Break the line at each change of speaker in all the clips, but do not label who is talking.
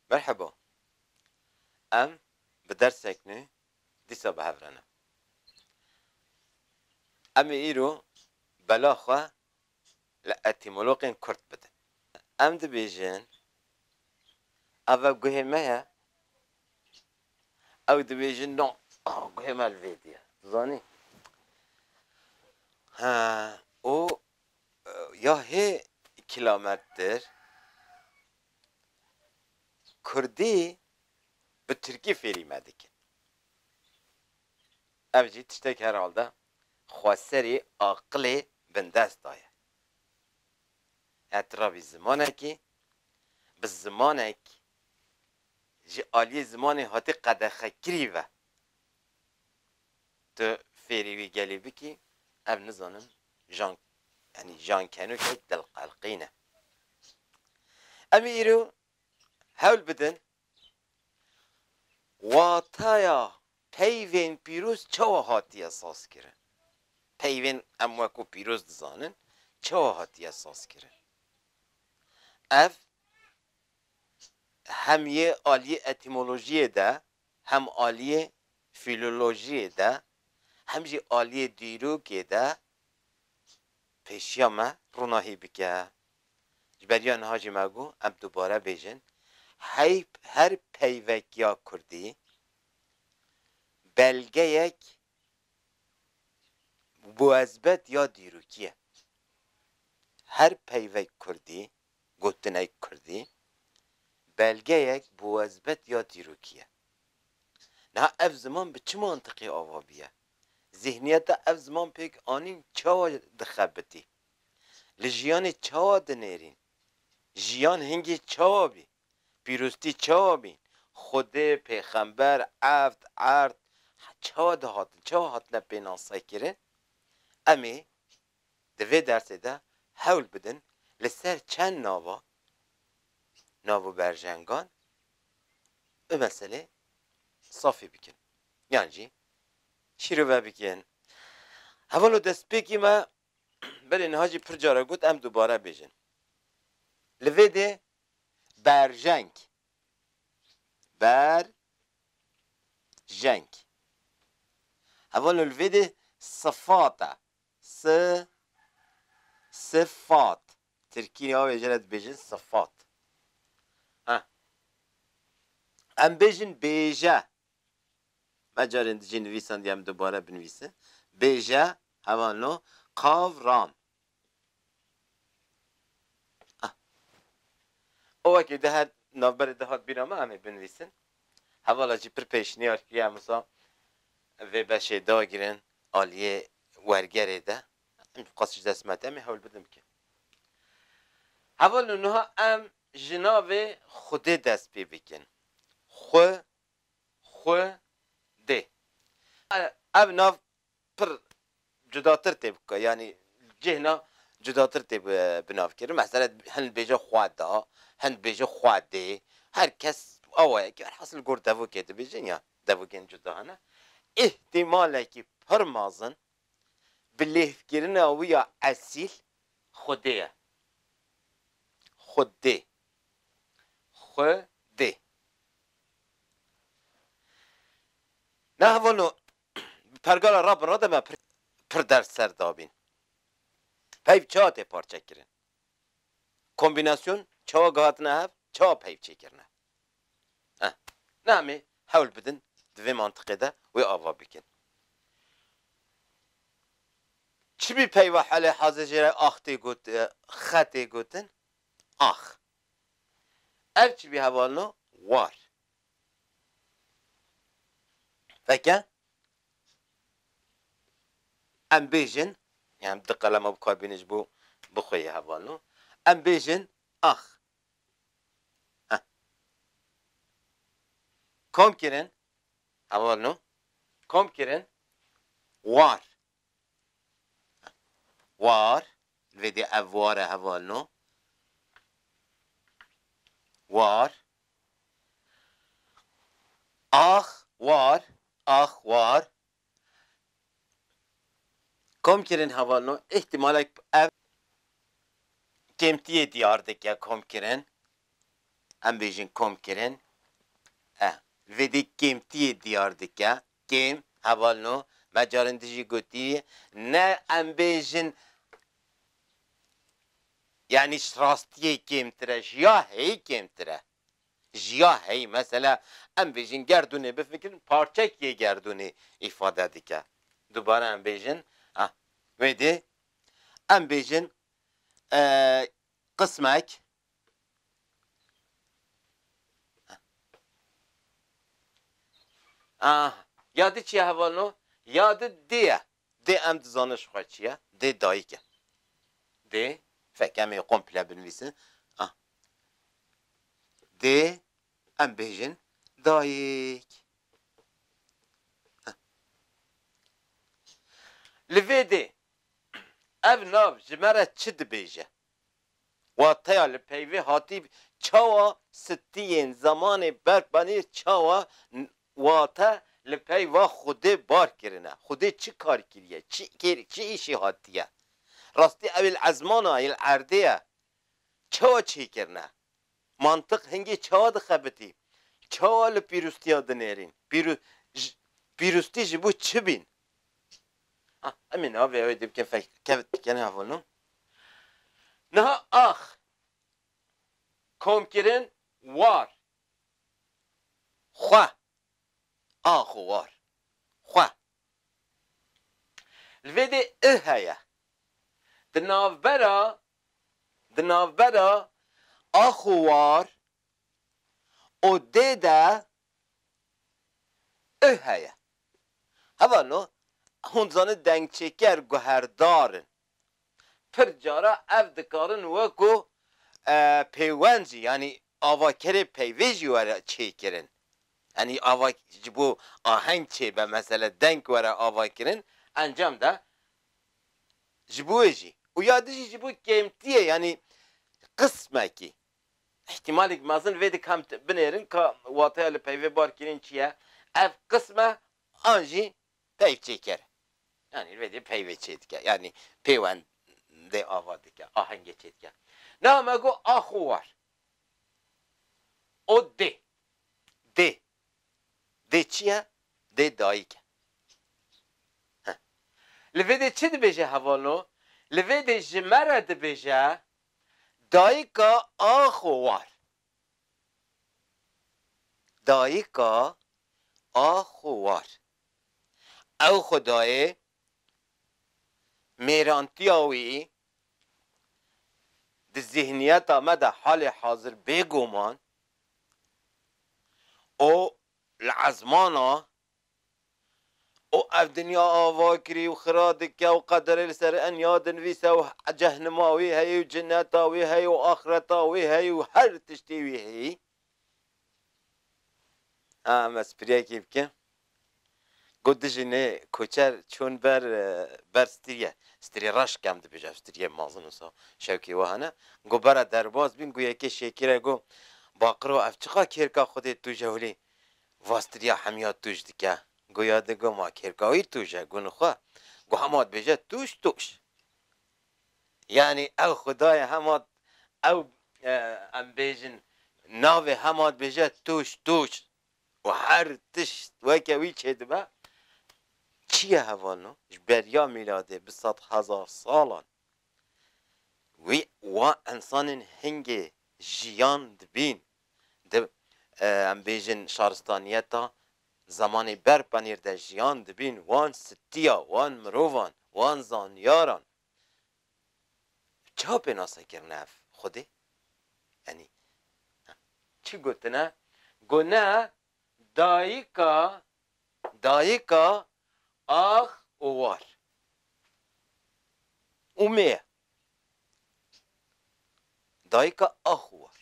Merheba. Em bi dersek nû dîsa bi hev re ne. Em ê îro bela xwe li etîmologên kurd bidin. Em dibêjin ev e guhê me ye, ew dibêjin no guhê me li vê diye. Tu zanî? Ha û ya hê kilamettir Kurdî bi tirkî fêrî me dikin. Ev jî tiştek herhalde xweserî aqilê bindest da ye. Etirafî zimanekî bi zimanek ji aliyê zimanê hatî qedexekirî ve. Tu fêrî wî gelî bikî, ev nizanim jan yanî jan kenûkek dilqelqîn e. Em ê îro hewl bidin wataya peyvên pîroz çawa hatiye sazkirin. Peyvên em wekû pîroz dizanin çawa hatiye sazkirin. Ev hem yê aliyê etîmolojiyê de Hem aliyê fîlolojiyê de hem jî aliyê dîrokê de pêşiya me ronahî bike. Ji ber ya niha jî me got, em dubare bêjin, hey her peyvekiya kurdî belgeyek muezbet ya dîrokî ye. Her peyvek kurdî gotinayî kurdî belgeyek bi wezbet ya dîrokî ye. Niha ev ziman bi çi mantiqê ava bûye? Zîhniyeta ev ziman pêk anîn çawa dixebitî? Li jiyanê çawa dinêrîn? Jiyan hingê çawa bî? Pîroztî çawa bîn? Xwedê, pêxember, eft, erd çawa dihatin, çawa hatine pênasekirin? Em ê Di vê dersê de hewl bidin li ser çend nava nav û berjengan bi meselê safî bikin yan jî şîrove bikin. Hevalo destpêkî me belê niha jî pir care got em dubare bêjin. Li vê dê berjeng, ber, jeng. Hevalo li vê dê sifat e. Si, sifat, tirkî navê jê re dibêjin sifat. Heh. Em bêjin bêje. Me carên di jê nivîsandiye em dubare binivîsin. Bêje, heva no, qav ram. û wekî di her navberê de hat bîra min em ê binivîsin. Hevala jî pir pêşniyar kiriye em wisa vê beşê dagirin aliyê wergerê de. Em qas ji dest me tê, em ê hewl bidin bikin. Heval û niha em ji navê Xwedê dest pê bikin. Xwe, Xwe, dê. Ev nav pir cudatir tê bi yanî cihna cudatir tê bi nav kirin. Mesela hin dibêje xwe da, hin dibêje xwe dê. Her kes awa ye ki elhasil li gor devokê dibêjin ya devokên cuda hene. Îhtîmalekî pir mezin bi lêvkirina wî ya esîl xwedê ye. Xwedê. Xwedê. Na hevalo Bi pergala Rabbin re de me pir pir ders ser dabîn. Peyv çawa tê parçekirin? Kombînasyon çawa gihatine hev, çawa peyv çêkirine? Eh, ne em ê hewl bidin di vê mantiqê de wê ava bikin. Çimî peyva helê hazê jê re ax tê got xe tê gotin? Ax. Ev çimî hevalino war. Veke em bêjin, yan di qelema bikarbînin ji bo bi xwe yê hevalino, em bêjin ax. Heh. Kom kirin, hevalino, kom kirin war. War, li vê dê ev war e hevalino. War. Ax, war, ax, war. Komkirin hevalino, îhtîmalek ev kêmtiyê diyar dike komkirin, em bêjin komkirin, eh, li vê dê kêmtiyê diyar dike, Kê heval no me carên din jî gotîyî ne em bêjin yanî rastîyê kêmtir e ji ya heyî kêmtir e. Ji ya heyî mesela em bêjin gerdûnê bifikirin parçekîyê gerdûnê îfade dike. Dubare em bêjin ah wê dê em bêjin qismek. Ah! Ya di çi ye heval no? Ya di dê ye. Dê em dizanin ji xwe çi ye? Dê dayik e. Dê, fek em ê komple binivîsin. Ah! Dê em bêjin dayik. Ah! Li vê dê ev nav ji me re çi dibêje? Wateya li peyvê hatî çawa stiyên zemanê berxwenî çawa wate li peyva Xwedê bar kirine. Xwedê çi kar kiriye, çi kêr çi îşê hatiye. Rastî ew il ezmana il erdê ye çawa çê kirine. Mantiq hingê çawa dixebitî. Çawa li pîrûstiya dinêrîn. Pîrû pîrûstî ji bo çi bîn. Emê niha vê ew dê bikin fek kevt bikin hevolno. Niha ax komkirin war xwe ax û war xwe li vê dê ih heye di navbera di navbera ax û war û dê de I heye. Hevano hûn dizanin dengçêker guherdar in. Pir cara ev dikarin weko pêwend jî yanî avakerê peyvê jî were çêkirin. Yanî ava ji bo aheng çêbe mesele deng were avakirin encam de ji bo wê jî û ya dijî ji bo kêmtiyê yanî qismekî Îhtîmalek mezin vê di kemt binêrin ka wateya li peyvê bar kirin çi ye, ev qism e an jî peyvçêker e. Yanî vê dê peyvê çê dike, yanî pêwendê ava dike, ahengê çê dike. Niha me got a xwe war. O dê. Dê. Dê çi ye? Dê dayik e. Heh. Li vê dê çi dibêje hevalno? Li vê dê ji me re dibêje, Dayika axo war. Dayika axo war. Ew xwedayê mêrantiya wî di zîhniyeta me de halê hazir bêgoman û li ezmana û ev dinya ava kirî û xira dike û qederê li ser enya dinivîse û cehnima wî heye û cineta wî heye û axireta wî heye û her tiştî wî heye. A em ez piriyekê bikim. Got dijî nê koçer çûn ber ber stirye. Stirê reş ke em dibêjin ev stiriyê mezin wisa şewkê wiha ne. Got bera derbas bîn got yekê şêkîre got baqiro ev çiqa kêrka xwedê tu jewlî Vastiriya hemiya tûj dike. Goya digo ma kêrkawîr tûj e, gûn xwe. Got hema dibêje tûj tûj. Yanî ew xwedayê hema ew em bêjin navê hema dibêje tûj tûj û her tişt weke wî çêdibe. Çi ye heval no? Ji beriya mîladê bi sed hezar salan wî wa ensanên hingê jiyan dibîn. Di, em bêjin, şaristaniyeta zemanê ber penêr de jiyan dibîn, wan sitiya wan mirovan, wan zaniyaran. Çiha pênase kirine ev xwedê? Yanî, çi gotine? Got ne, dayika, dayika ax û war û mêr Dayika ax û war.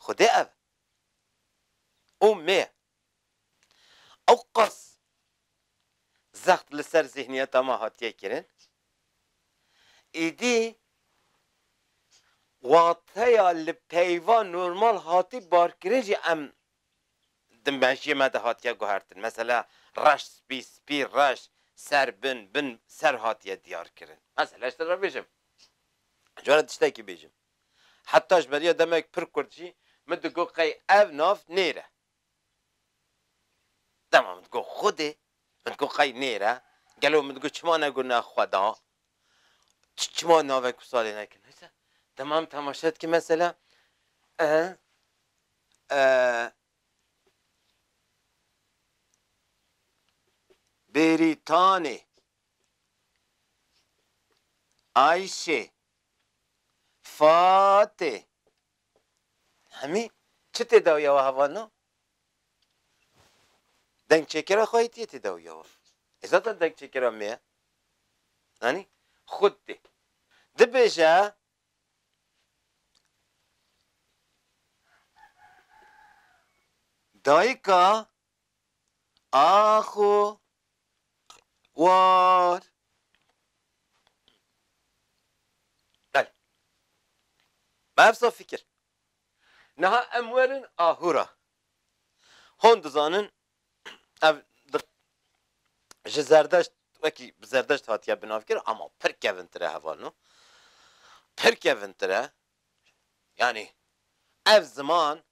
Xwedê ev e. Û me ye. Ew qas zext li ser zîhniyeta me hatiye kirin, êdî wateya li peyva normal hatî barkirin jî em di mejiyê me de hatiye guhertin. Mesela, reş, spî, spî, reş, ser, bin, bin, ser hatiye diyarkirin. Mesela, ji te re bêjim, ji we re tiştekî bêjim. Heta ji beriya demek pir kurd jî min digot qey ev nav nêre. Dema min digot Xwedê, min digot qey nêre, gelo min digot çima negot ne Xweda? Çima navek û salê nekin? Wisa temam temaşe dike mesela Bêrîtanê, Ayşê, Fatê. Hemî çi tê dawiya wiha vano? Dengçêkera xwehîtiyê tê dawiya wan. Ê zaten dengçêkera me ye. Anî? Xwed tê. Dibêje Dayika Axo war. Belê. Mafsa fikir. Niha em werin aho re. Hon dizanin ev ji zerdeşt wekî bi zerdeşt hatiye binavkirin ama pir kevintir e heval no. Pir kevintir e. Yanî ev ziman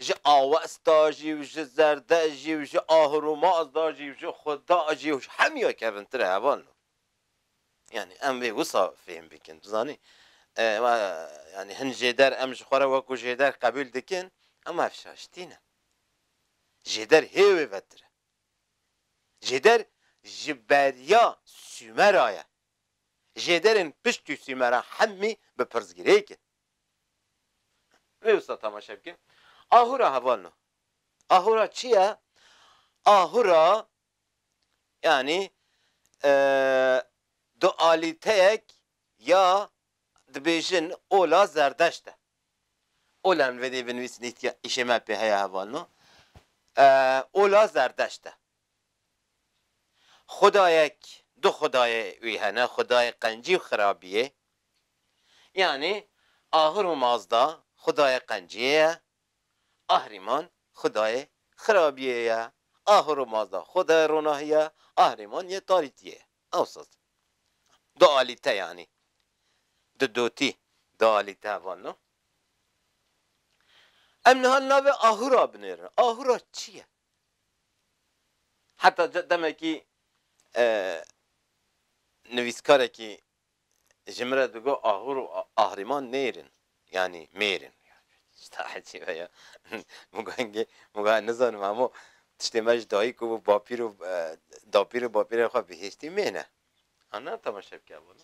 Ji Awesta jî û ji Zerde jî û ji Ahurûmaz da jî û ji Xuda jî û ji hemûya kevintir e heval no. Yanî em vê wisa fêhm bikin. Tu zanî yanî hin jêder em ji xwe re wekû jêder qebûl dikin em ev şaştî ne. Jêder hê wê vetir e. Jêder ji beriya Sûmera ye. Jêderên piştî Sûmeran hemî bi pirsgirêk in. Rê usta tamaşe bike. Ahura heval no. Ahura çi ye? Ahura yanî dualîteyek ya dibêjin ola zerdeşt e. Ola min vedê binivîs nîtiya îşê me pê heye heval no. Ola zerdeşt e. Xwedayek, du xwedayê wî hene, xwedayê qencî û xirabiyê. Yanî Ahur û Mazda xwedayê qenciyê ye, Ahriman xwedayê xirabiyê ye. Ahur û Mazda xwedayê ronahî ye, Ahriman yê tarîtiyê ye. Ewsa dualîte yanî du dotî dualîte heval no. Em niha li navê Ahura binêrin. Ahura çi ye? Heta demekî nivîskarekî ji min re digot Ahûr û Ahrîman nêrin yanî mêrin. Tişta ecîb e ya. Min got engê min got ez nizanim hemû tiştên me ji dayîk û bapîr û dapîr û bapîrên xwe bihêştî mêr e. An na temaşe bike evolo.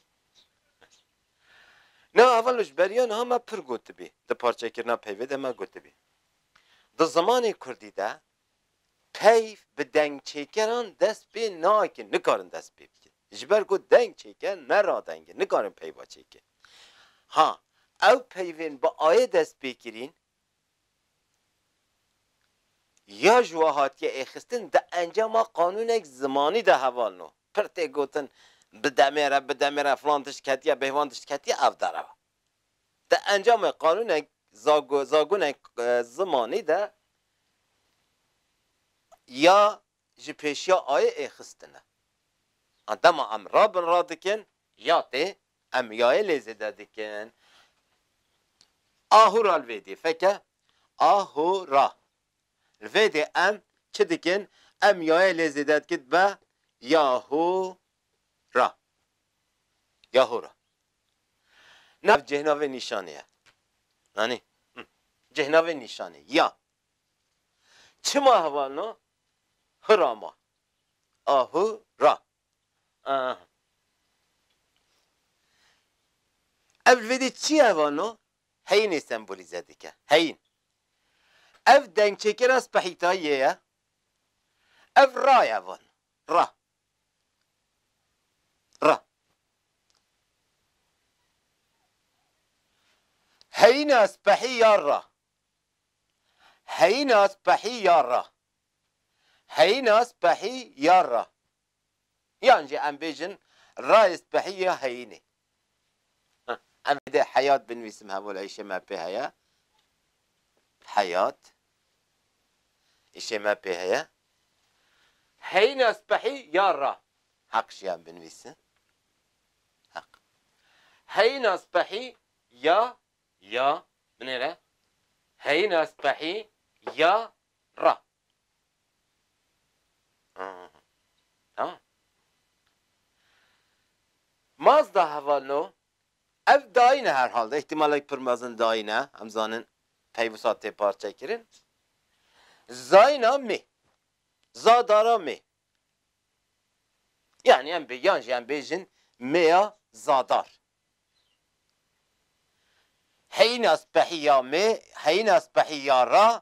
Na evolo ji beriya niha me pir gotibî. Di parçekirina peyvê de me gotibî. Di zimanê kurdî de peyv bi dengçêkeran dest pê nake, nikarin dest pê bikin. Ji ber ku dengçêker ne radeng e, nikarin peyva çêkin. Ha ew peyvên bi ayê dest pê kirîn, ya ji we hatiye êxistin di encama qanûnek zimanî de hevalin û pir tê gotin bi demê re, bi demê re filan tişt ketiye, bêhvan tişt ketiye, ev derew e. Di encamê qanûnên zagonên zimanî de ya ji pêşiya ayê ê xistine. An dema em ra bin ra dikin ya tê em yayê lê zêde dikin. Ahûra li vê dê feke ahûra. Li vê dê em çi dikin em yayê lê zêde dikin dibe yahû Ra. Ya hora. Nav cêhnavê nîşanê ye. Anî? Cêhnavê nîşanê. Ya. Çima heval na? Hi ra ma. A hi ra. Aa. Ev li vê dî çi ye heval na? Heyînê sembolîze dike. Heyîn. Ev dengçêkêra spehîtayî yê ye. Ev ra ye heval na. Ra. re. Heyîna spehî ya re. Heyîna spehî ya re. Heyîna spehî ya re. Yan jî em bêjin rayê spehî ya heyînê. Em ê dê heyat binivîsim hemû li îşê me pê heye. Heyat îşê me pê heye. Heyîna spehî ya ra. Heq jî em binivîsin. Heq. Heyîna spehî ya ya binêre. Heyîna spehî ya ra. Mazda heval no, ev dayîn e her hal de, îhtîmalek pir mezin dayîn e, em zanin pey wisa tê parçekirin. Zayna mê, za dara mê. Yanî em bê yan jî em bêjin mêya zadar. Heyîna spehî ya mê, heyîna spehî ya ra,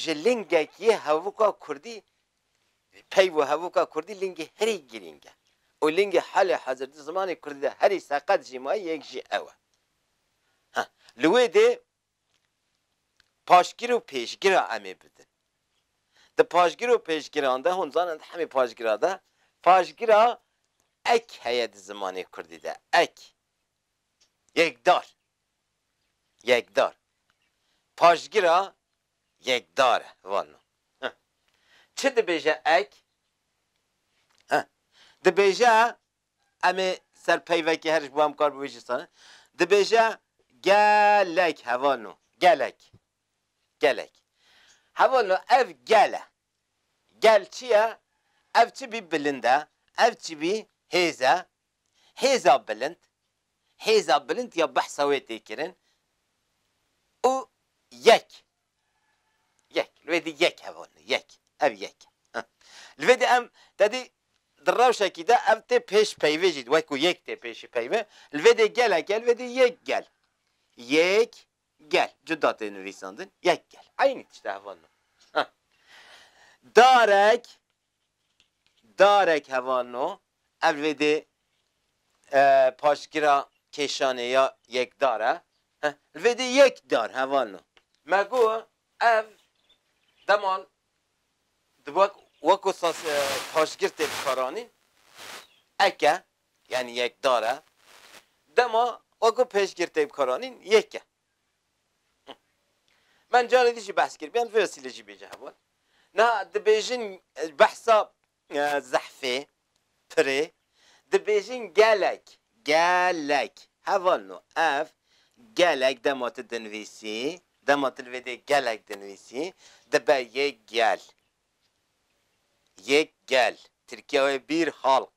Ji lingek yê hevûka kurdî peyv û hevûka kurdî lingê herî girîng e û lingê halê hezir di zimanê kurdî de herî seqet jî maye yek jî ew e. Ha li wê dê paşgir û pêşgira em ê bidin. Di paşgir û pêşgiran de hûn dizanin di hemî paşgira de paşgira ek heye di zimanê kurdî de ek, yekdar. Yekdar. Paşgira yekdar e. Vano. Heh. Çi dibêje ek? Heh. Dibêje em ê ser peyvekê her ji bo em kar bi wê jî sane. Dibêje gelek he. Vano. Gelek. Gelek. Hevano ev gel e. Gel çi ye? Ev çi bî bilind e, ev çi bî hêz e. Hêza bilind, hêza bilind ya behsa wê tê kirin û yek, yek, li wê dî yek hev hol, yek, ev yek e. Li vê dî em tedî di rewşekî de ev tê pêş peyvê jî wek ku yek tê pêşî peyvê, li vê dê gelek e, li vê dî yek gel, yêk gel, cuda tê nivîsandin, yek gel, eynî tişt e hev hol. Darek, Darek hevalno ev vêdê paşgira kêşanê ya yekdar e. Li vêdê yek dar hevalno. Me got ev deman weko sas paşgir tê dikaranîn. Ek e, yanî yekdar e. Dema weko pêşgir tê bikaranîn yek e. من carê din jî behs kiribû em vê wesîlê jî bêje hebûn. Niha dibêjin behsa zehfê, pirê dibêjin gelek, gelek heval no ev gelek dema tu dinivîsî, dema tu li vê dê gelek dinivîsî dibe yek gel, yek gel, tirkiya wê bîr halq,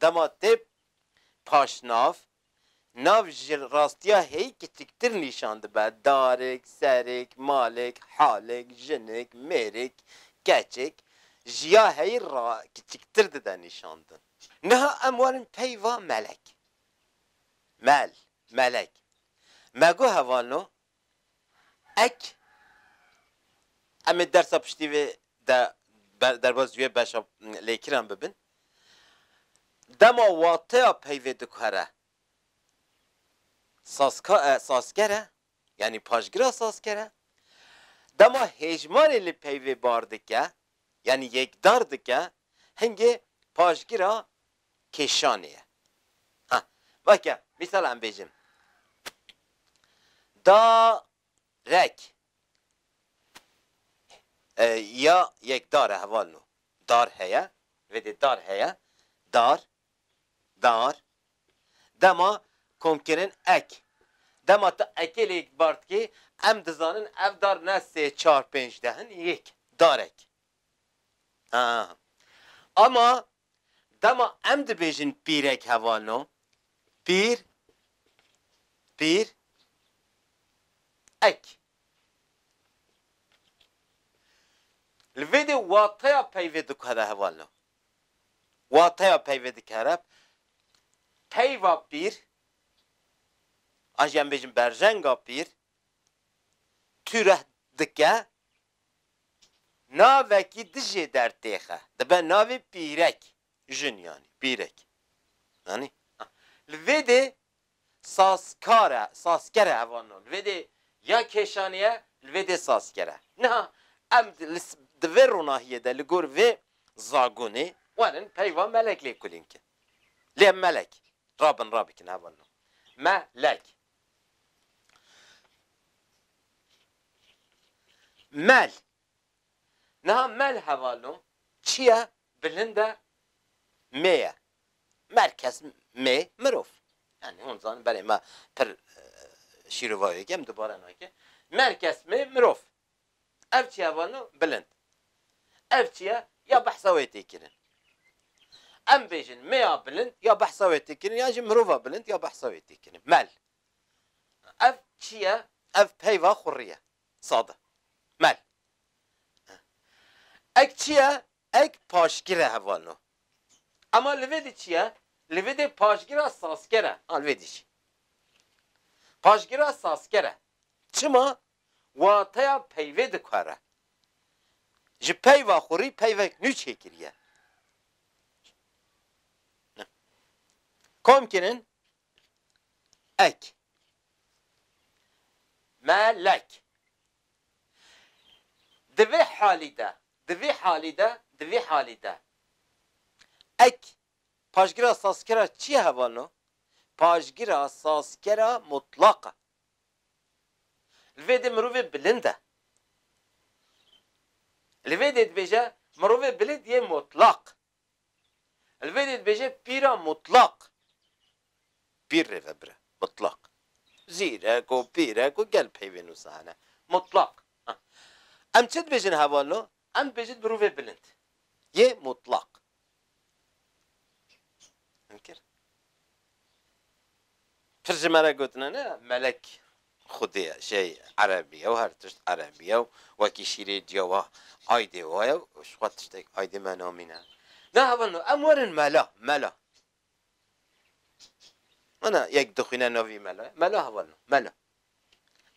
Dema tê paşnav, nav ji rastiya hêyî kiçiktir nîşan dibe, darik, serik, malik, halik, jinik, mêrik, keçik, ji ya heyî re kiçiktir dide nîşandin. Niha em warin peyva melek, mel, melek. Me got hevano Ek em ê dersa piştî vê de derbas wê beşa lêkiran bibin. Dema wateya peyvê dikare sazka e, sazker e, yanî paşgira sazker e. Dema hêjmarê li peyvê bar dike, yanî yekdar dike, hingê paşgira kêşanê ye. Ha, vake mîsala em bêjin, da rek ya yek dar e, heval no dar heye, vê dê dar heye, dar, dar, dema komkirin ek. Dema tu ekê lê bar dikî, em dizanin ev dar ne sê, çar, pênc, deh in, yek, darek. Ha, ama Dema em dibêjin pîrek heval no, pîr, pîr, ek. Li vê de wateya peyve dikare heval no. Wateya peyve dikare peyva pîr, a jî em bêjin berjenga pîr, tûreh dike, Navekî dijê dertêxe dibe navê pîrek, jin yanî pîrek. Anî? Li vê dê sazkar e, sazker e heval no. Li vê dê ya kêşanî ye, li vê dê sazker e. Niha em di vê ronahiyê de li gor vê zagonê werin peyva melek lê kulîn kin. Lê em melek rabin rabikin heval no. Me lek. Mel, niha mel hevalo çiye bilinde mê ye. Mel kes mê mirov. Yanî hûn zanin belê me pir şîrovayeke em dubare nake. Mel kes mê mirov. Ev çiya vano bilind. Ev çiya ya behsa wê tê kirin. Em bêjin mêya bilind ya behsa wê tê kirin yan jî mirova bilind ya behsa wê tê kirin. Mel. Ev çiya, ev peyva xurrî ye. Sade. Mel. Ek çiya, ek paşgir e hevano. Ema li vê de çiya, li vê de paşgira sazker e. A li vê de jî. Paşgira sazker e. Çima? Wateya peyvê dikare ji peyva xurî peyvek nû çêkiriye. Kom kirin ek. Me lek. Di vê halî de, di vê halî de, di vê halî de ek paşgira sazkera çi ye hevalno? Paşgira sazkera mutlaq e. Li vê dê mirovê bilind e. Li vê dê dibêje mirovê bilind yê mutlaq. Li vê dê dibêje pîra mutlaq. Pîr rê ve bire. Mutlaq. Zîrek û pîrek û gel peyvên wisa hene. Mutlaq. Em çi dibêjin hevalno? Em dibêjin mirovê bilind yê mutlaq. Mumkin. Pir ji me re gotine ne melek xwedê ye, şey erebî ye û her tişt erebî ye û wekî şîrê ciwa aydê wa ye û ji xwe tiştek aydê me namîne. Nahevin em werin mela, mela. Ana yek dixwîne navî melo ye, melo heval no, melo.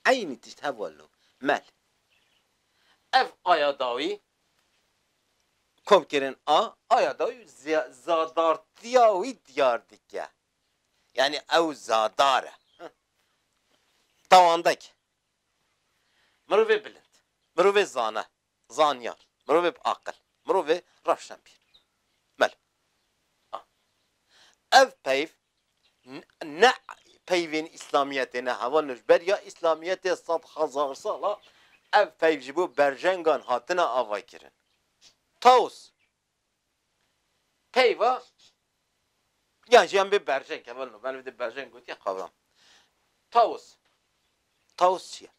Eynî tişt heval no, mel. Ev aya dawî komkirin a, aya dawî zadartiya wî diyar dike. Yanî ew zadar e. Tawandek. Mirovê bilind. Mirovê zana. Zanyar, mirovê bi aqil, mirovê rewşenbîr. Melo. A. Ev peyv ne peyvên îslamiyetê ne, heval ne ji ber ya îslamiyetê sed hezar sal a, ev peyv ji bo berjengan hatine avaykirin. Taos. Peyva yan jî em bê berjeng ke beno beno dê berjeng gotiye qavram. Taos, taos çi ye?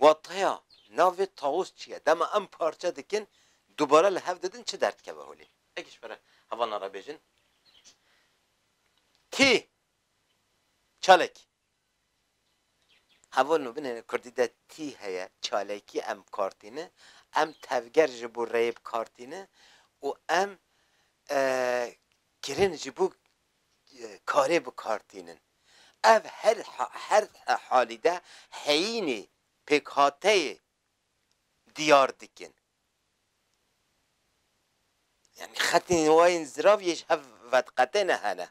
Wateya navê taos çi ye? Dema em parçe dikin dubare li hev didin çi derdikeve holê? Eke ji pere hevalan re bêjin. Kî çalek Hevol no binê kurdî de tî heye çalekî em bikartîne, em tevger ji bo reyê bikartîne û em kirin ji bo karê bikartînin. Ev her her halî de heyînê pêkhateyê diyar dikin. Yanî xetên wa yên zirav yê ji hev vediqetêne hene.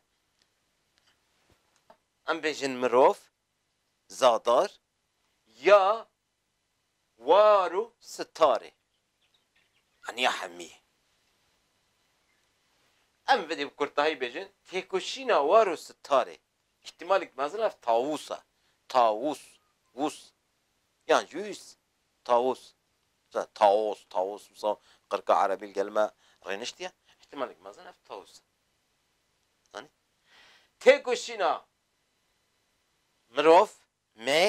Em bêjin mirov, zadar ya war û sitar ê. Yanî ya hemî yê. Em vedê bi kurtahî bêjin têkoşîna war û sitar ê. Îhtîmalek mezin ev tawûs e. Tawûs, wûs yan jûs. Taos, wisa Taos, Taos wisa qirka erebî li gel me rêniştiye, îhtîmalek mezin ev Taos e. Zanî? Têkoşîna mirov, me,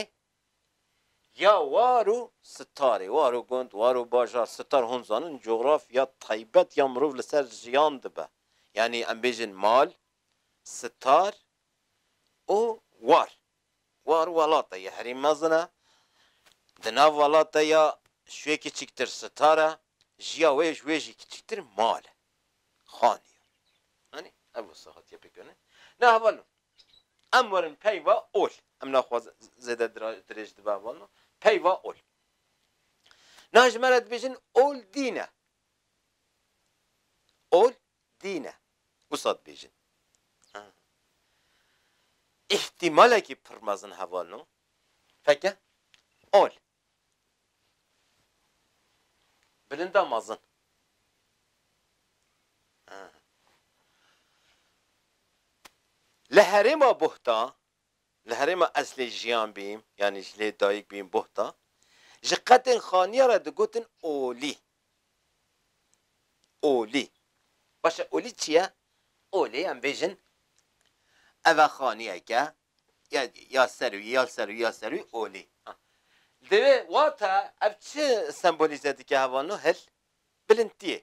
ya war û sitarê, war û gund, war û bajar, sitar hûn zanin cografya taybet ya mirov li ser jiyan dibe. Yanî em bêjin mal, sitar û war. War welata ye herî mezin e, di nav welata ya şûyê kiçiktir sitar e, jiya wê ji wê jî kiçiktir mal e, xanî ye. Anî ev wisa hatiye pêkirinê. Na hevalno em werin peyva ol, em naxwazin zêde dirêj dibe hevalno, peyva ol. Na ji me re dibêjin ol dîn e. Ol Dîn e. Wisa dibêjin. Îhtîmalekî pir mezin heval no. Feke. Ol. Bilinda mezin. Li herêma Buhta Li herêma ez lê jiyan bîm yanî ji lê dayik bîm Buhta, ji qetên xaniya re digotin Olî. Olî. Baş e Olî çi ye? Olî em bêjin ev e xaniyeke ya ya serûyî ya li serûyî ya li serûyî Olî. Divê wata ev çi sembolîze dike hevano hil? Bilintiyê.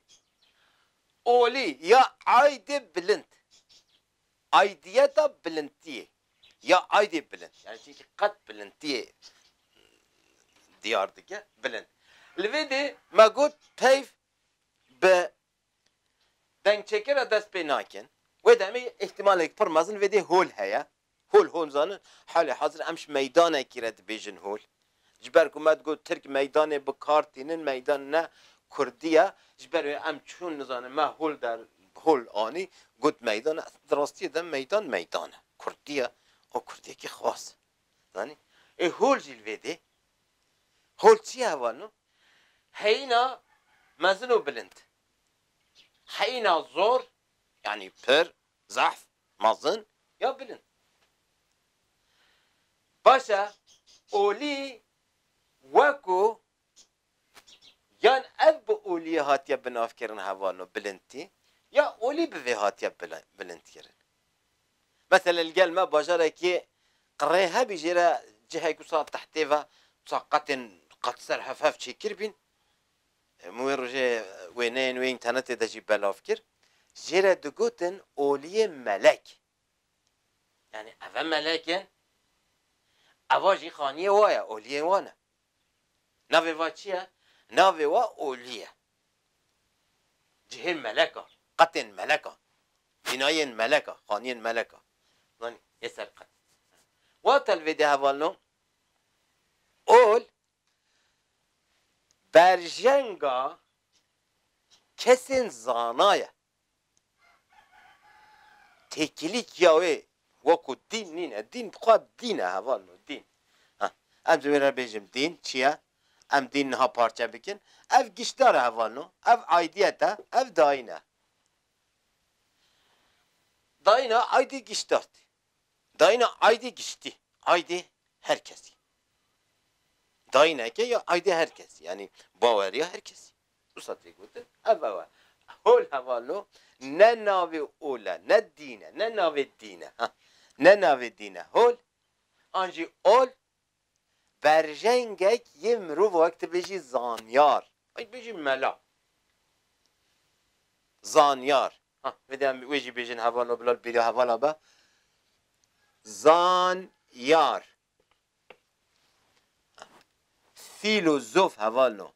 Olî ya aydê bilind. Aidiyeta bilindtiyê ya aidê bilind yanî çimkî qet bilindtiyê diyar dike bilind. Li vê dê me got peyv bi dengçêkê re dest pê nakin. Wê demê îhtîmalek pir mezin vê dê hol heye. Hol hol zanin halê hezir em ji meydanekî re dibêjin hol. Ji ber ku me digot Tirk meydanê bi kar tînin, meydan ne Kurdî ye. Ji ber wê em çûn nizanin me hol der hol anî got meydan e. Di rastiyê de meydan meydan e. Kurdî ye û Kurdekî xwas e. Zanî? Ê hol jî li vê dê. Hol çi ye heval no? Heyîna mezin û bilind. Heyîna zor yanî pir, zehf, Mezin ya bilind. Baş e olî weko yan ev bi olîyê hatiye binavkirin hevano bilindtî ya olî bi vê hatiye bilindkirin. Meselê li gel me bajarekî qirê hebî jê re cihek wisa tehtê ve wisa qetên qet ser hevhev çêkir bîn Hemû wê rojê wêneyên wê înternetê de jî belav kir. Jê re digotin oliyê melek. Yanî ev e melek in? Eva jî xaniyê wa ye, oliyên wan e. Navê va çi ye? Navê wa olî ye. Cihê melek a, qetên melek a, bînayên melek a, xaniyên melek a. Zanî yê ser qet. Wata li vê dê hevalino, ol Berjenga kesên zana ye. Têkilîkiya wê wekû dîn nîne. Dîn dixwa dîn e heval no dîn. Ha, em ji wê re bêjim dîn çi ye? Em dîn niha parçe bikin. Ev giştdar e heval no. Ev aydiyet e, ev dayîn e. Dayîna aydî giştdar tê. Dayîna aydê giştî, aydê her kesî. Dayîneke ya aydê her kesî yanî baweriya her kesî. Wisa tê gotin ev ew e. Hol heval no ne navê ol e, ne dîn e, ne navê dîn e ha. Ne navê dîn e hol an jî ol Berjengek yê mirovo wek tu bêjî zanyar. Wek bêjî mela. Zanyar. Ha vêde em wê jî bêjin heval o bila li bêriya hevala be. Zanyar. Fîlozof heval no.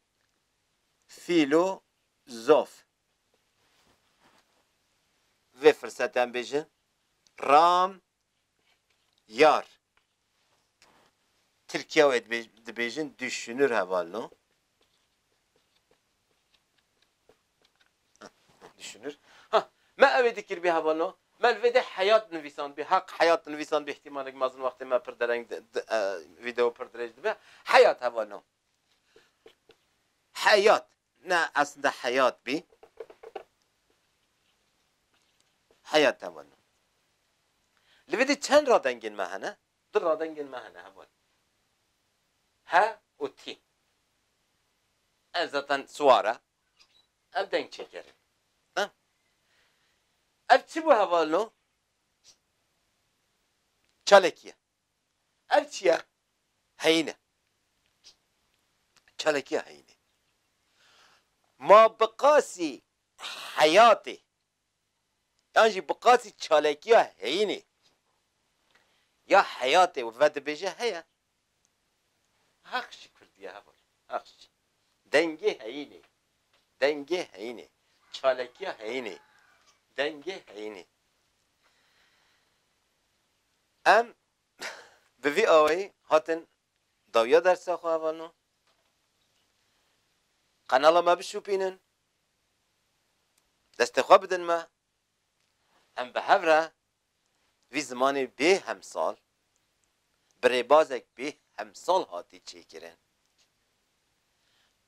Fîlozof. Vê firsetde em bêjin ram Yar, Tirkiya wê dibêjin duşunur heval no. Duşunur. Ha, me ewê dikirbî heval no. Me li vê de heyat nivîsandbî. Haq heyat nivîsandbî îhtîmalek mezin wextê me pir dereng video pir dirêj dibe. Heyat heval no. Heyat. Na esnde heyat bî. Heyat heval e. Li vê dî çend radengên me hene? Du radengên me hene heval. He û tî. Ev zaten siwar e. Ev deng çêker e. Na. Ev çi bû heval o? Çalekî ye. Ev çi ye? Heyîn e. Çalakîya heyînê. Ma bi qasî heyatê yan jî bi qasî çalakîya heyînê ya heyatê vedibêje heye. Heq jî kurdî ye heval. Heq jî. Dengê heyînê. Dengê heyînê. Çalakîya heyînê. Dengê heyînê. Em bi vî awayî hatin dawiya dersa xwe hevalno, qenala me bişûpînin, destê xwe bidin me, em bi hev re vî zimanê bê hemsal bi rêbazek bê hemsal hatî çêkirin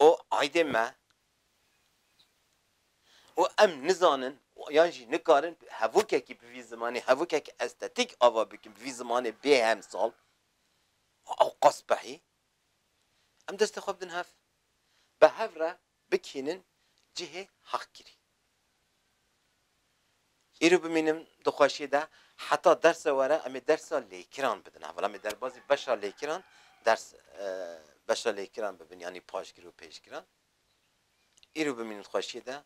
û aydên me û em nizanin yan jî nikarin hevokekî bi vî zimanê, hevokekî estetîk ava bikin bi vî zimanê bê hemsal û qasbehî, em destê xwe bidin hev. Bi hev re bikînin cihê heqkirî. Îro bimînim di xweşiyê de heta derse were em ê dersa lêkiran bidin heval. Em ê derbazî beşa lêkiran ders beşa lêkiran bibin yanî paşgir û pêşgiran. Îro bimînim di xweşiyê de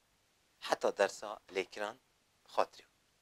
heta dersa lêkiran bi xatirê xwe.